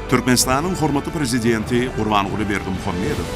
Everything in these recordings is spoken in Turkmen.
Türkmenistanyň hormatly Prezidenti Gurbanguly Berdimuhamedow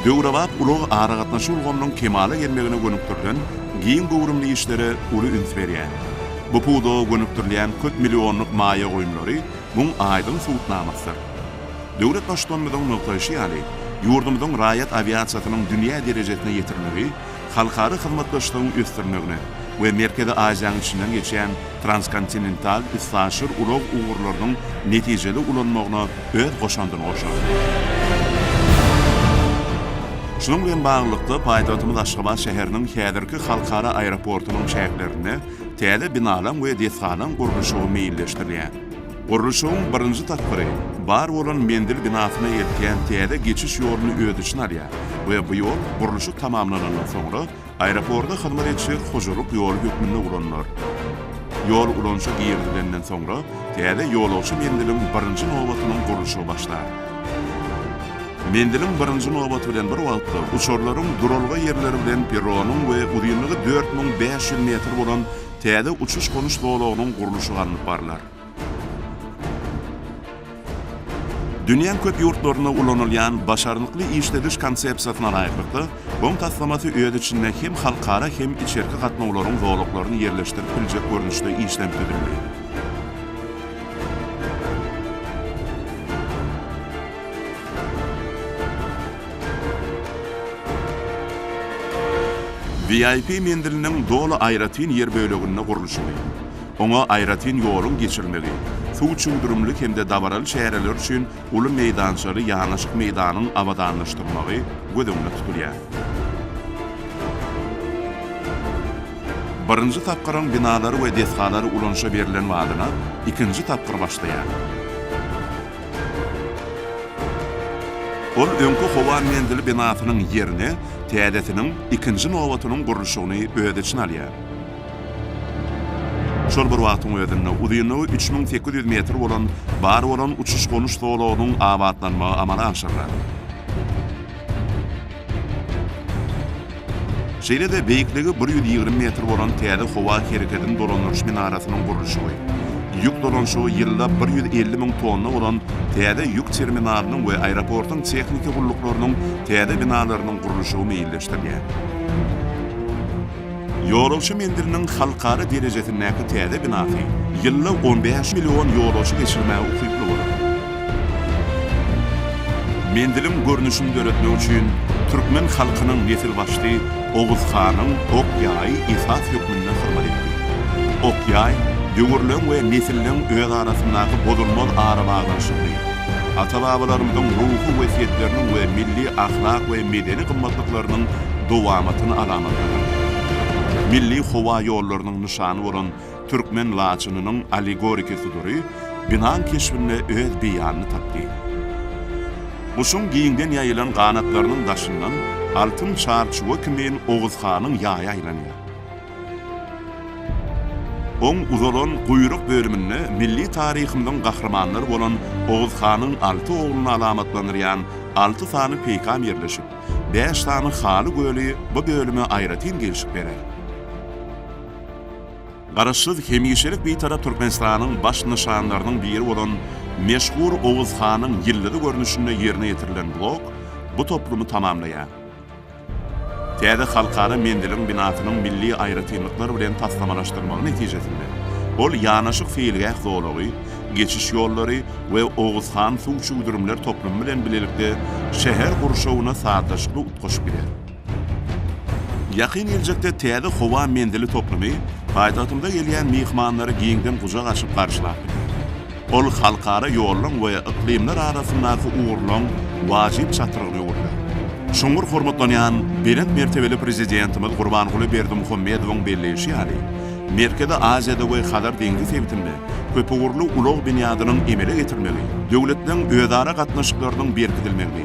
döwrebap ulag-aragatnaşyk ulgamynyň kemala gelmegine gönükdirilen giň göwrümli işlere uly üns berýär. Bu pudaga gönükdirilýän köp millionlyk maýa goýumlary muň aýdyň subutnamasydyr. Döwlet Baştutanymyzyň nygtaýşy ýaly, ýurdumyzyň raýat awiasiýasynyň dünýä derejesine ýetirmegi halkara hyzmatdaşlygyň ösdürmegine we Merkezi Aziýanyň içinden geçýän transkontinental üstaşyr ulag ugurlarynyň netijeli ulanmagyna öz goşandyny goşar. Şunuň bilen baglylykda, paýtagtymyz Aşgabat şäheriniň häzirki halkara aeroportunyň çäklerinde täze binalaň we desgalaň gurluşygy meýilleşdirilýär. Gurluşygyň birinji tapgyry bar bolan menzil binasyna eltýän täze geçiş ýoluny öz içine alýar we bu ýol gurluşyk tamamlanandan soňra aeroporda hyzmat edişer hojalyk ýoly hökmünde ulanylar. Ýol ulanyşa girizilenden soňra täze ýolagçy menziliň birinji nobatynyň gurluşygy başlar. Menziliň birinji nobaty bilen bir wagtda uçarlaryň duralga ýerleri bilen perronyň we uzynlygy dört müň bäş ýüz metr bolan täze uçuş-gonuş zolagynyň gurluşygy alnyp barlar. Dünýäň köp ýurtlarynda ulanylýan başarnykly işlediş konsepsiýasyna laýyklykda, BOM taslamasy öz içinde hem halkara, hem içerki gatnawlaryň zolaklaryny ýerleşdirip biljek görnüşde işlenip düzüldi. VIP menziliniň doly aýratyn ýer böleginde gurluşygy, oňa aýratyn ýoluň geçirilmegi, suw çüwdürimli hem-de dabaraly çäreler üçin uly meýdançaly ýanaşyk meýdanyň abadanlaşdyrylmagy göz öňünde tutulýar. Birinji tapgyryň binalary we desgalary ulanyşa berlen badyna ikinji tapgyr başlaýar. Ol öňki howa menzili binasynyň ýerine täzesiniň ikinji nobatynyň gurluşygyny öz içine alýar. Şol bir wagtyň özünde uzynlygy üç müň sekiz ýüz metr bolan bar bolan uçuş-gonuş zolagynyň abatlanmagy amala aşyrylar. Şeýle-de beýikligi bir ýüz ýigrimi metr bolan täze howa hereketini dolandyryş minarasynyň gurluşygy, ýük dolanyşygy ýylda bir ýüz elli müň tonna bolan täze ýük terminalynyň we aeroportyň tehniki gulluklarynyň täze binalarynyň gurluşygy meýilleşdirilýär. Ýolagçy menziliniň halkara derejesindäki täze binasy ýylda on bäş million ýolagçy geçirmäge ukyply bolar. Menziliň görnüşini döretmek üçin türkmen halkynyň nesilbaşysy Oguz hanyň ok ýaýy esas hökmünde hyzmat etdi. Ok ýaý döwürleň we nesilliň özarasyndaky bozulmaz arabaglanyşygyny, Ata-babalarymyzyň ruhy wesýetleriniň we milli ahlak we medeni gymmatlyklarynyň dowamatyny alamatladyň. Milli howa ýollarynyň nyşany bolan türkmen laçynynyň allegoriki sudury binaň keşbinde öz beýanyny tapdy. Guşuň giňden ýaýylan ganatlarynyň daşyndan altyn çarçuwa kimin Oguzhanyň ýaýy aýlanýar. Oň uzalan guýruk bölüminde milli taryhymyzyň gahrymanlary bolan Oguz hanyň alty ogluny alamatlandyrýan alty sany peýkam ýerleşip, bäş sany haly göli bu bölüme aýratyn gelşik berer. Garaşsyz, hemişelik Bitarap Türkmenistanyň baş nyşanlarynyň biri bolan meşhur Oguz hanyň ýyldyzy görnüşinde ýerine ýetirilen blok bu toplumy tamamlaýar. Täze halkara menziliň binasynyň milli aýratynlyklar bilen taslamalaşdyrylmagy netijesinde, ol ýanaşyk seýilgäh zolagy, geçiş ýollary we Oguzhan suw çüwdürimler toplumy bilen bilelikde şäher gurşawyna sazlaşykly utgaşyp gider. Ýakyn geljekde täze howa menzili toplumy paýtagtymyza gelýän myhmanlary giňden gujak açyp garşylap biler. Ol halkara ýollaryň we yklymlar arasyndaky ugurlaryň wajyp çatrygyny öwürýär. Çuňňur hormatlanýan Belent mertebeli Prezidentimiz Gurbanguly Berdimuhamedowyň belleýşi ýaly, Merkezi Aziýada we Hazar deňzi sebitinde köpugurly ulag binýadynyň emele getirilmegi döwletleriň özara gatnaşyklarynyň berkidilmegini,